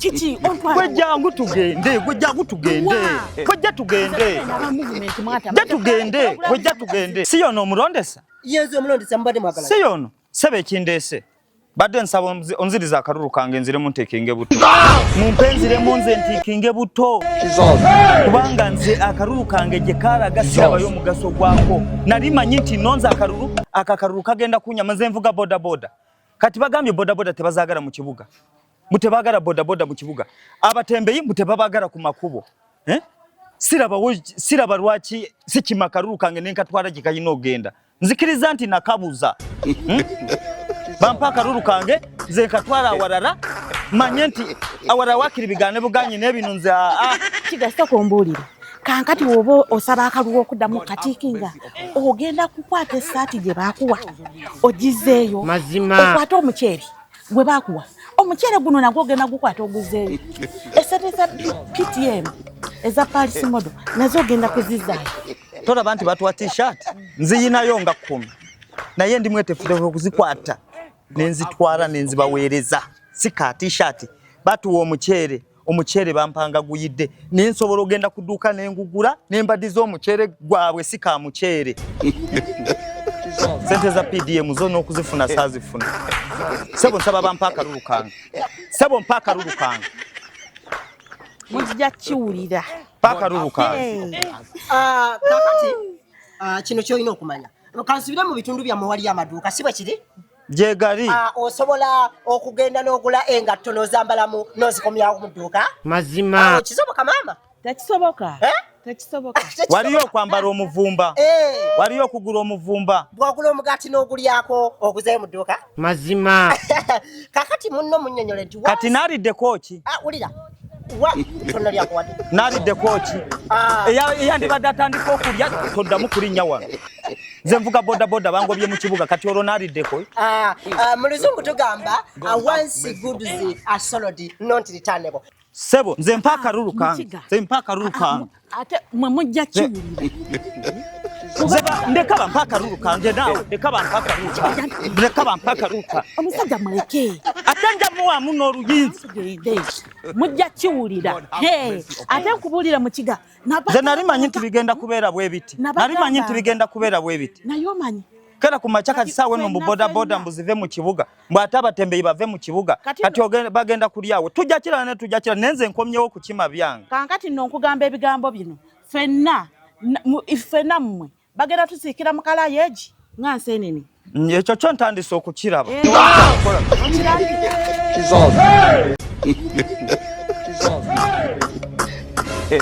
Kiki ontwala? Gwe jangu tugende, gwe jangu tugende. Gwe ja tugende. Ja tugende, gwe ja tugende. Si yono omulondesa? Yezu omulondesa mbadde mwagala. Si yono. Sebe ekindese. Badde nsaba onziriza akaruru kange nzire mu ntekinge buto. Mu mpenzire mu nze ntekinge buto. Kubanga nze akaruru kange je kara gasira bayo mugaso gwako. Nali manyi nti nonza akaruru akakaruru kagenda kunya maze mvuga boda boda. Kati bagambye boda boda tebazagara mu kibuga. mbu tebagala bodaboda mu kibuga abatembeyi mbu tebabagala ku makubo eh? siraba, siraba lwaki sikima kalulu kange nenkatwala gye kalina ogenda nzikiriza nti nakabuza hmm? bampa akalulu kange nze nkatwala awalala manye nti awalala wakiri bigane buganye nebino nze aa ah, ah. kigasa kumbuulira kankati woba osaba akaluwa okuddamu katikinga ogenda kukwata esaati gye bakuwa ogizeeyo okwate omuceeri gwe bakuwa omuceere guno nagwo ogenda gukwata oguzeeyo esente za ptm eza palisi modo nazo ogenda kuzizaayo tolaba nti batuwa tshirt nziyinayo nga kumi naye ndi mwetefutefu okuzikwata nenzitwala nenzibaweereza si ka tshirt batuwa omuceere omuceere bampanga guyidde naye nsobola ogenda ku dduuka ne ngugula ne mbadiza omuceere gwabwe si ka muceere sente za pdm zo n'okuzifuna saazifuna sebo nsaba bampa akalulu kange sebo mpa akalulu kange mujja kiwulira mpa akalulu kange ah, kakati ah, kino kyolina okumanya kansubire mu bitundu byammwe waliyo amaduuka si bwe kiri gyegali ah, osobola okugenda n'ogula engatto n'ozambalamu n'ozikomyawo mu dduuka mazima ah, kisoboka maama tekisoboka eh? waliyo okwambala omuvumba eh. waliyo okugula omuvumba bwogula omugaati n'ogulyako oguzeyo mu dduuka mazima kakati munno munyonyole nti kati naliddeko ki ah, wulira naliddeko ki ah. eyandibadde atandika okulya toddamu kulinnya wano nze nvuga bodaboda bangobye mu kibuga kati olwo naliddeko ah, ah, mu luzungu tugamba once goods are solid not returnable sebo nze mpa akalulu kange nze mpa akalulu kange ate mwe mujja kiwulira ndeka bampa akalulu kange naawe ndeka bampa akalulu kange ndeka bampa akalulu kange omusajja muleke ate nja muwaamu n'oluyinza mujja kiwulira ate nkubuulira mukiga nze nali manyi nti bigenda kubeera bwe biti nali manyi nti bigenda kubeera bwe biti naye omanyi kera ku makya kati saawa eno mbu bodaboda mbuzive mu kibuga mbwate abatembeyi bave mu kibuga kati bagenda kulyawo tujja kirala ne tujja kirala nenze nkomyewo kukima byange kankati nno nkugamba ebigambo bino fenna fenna mmwe bagenda tusiikira mu kalayeji nga nsenene ekyo kyo ntandise okukiraba eh.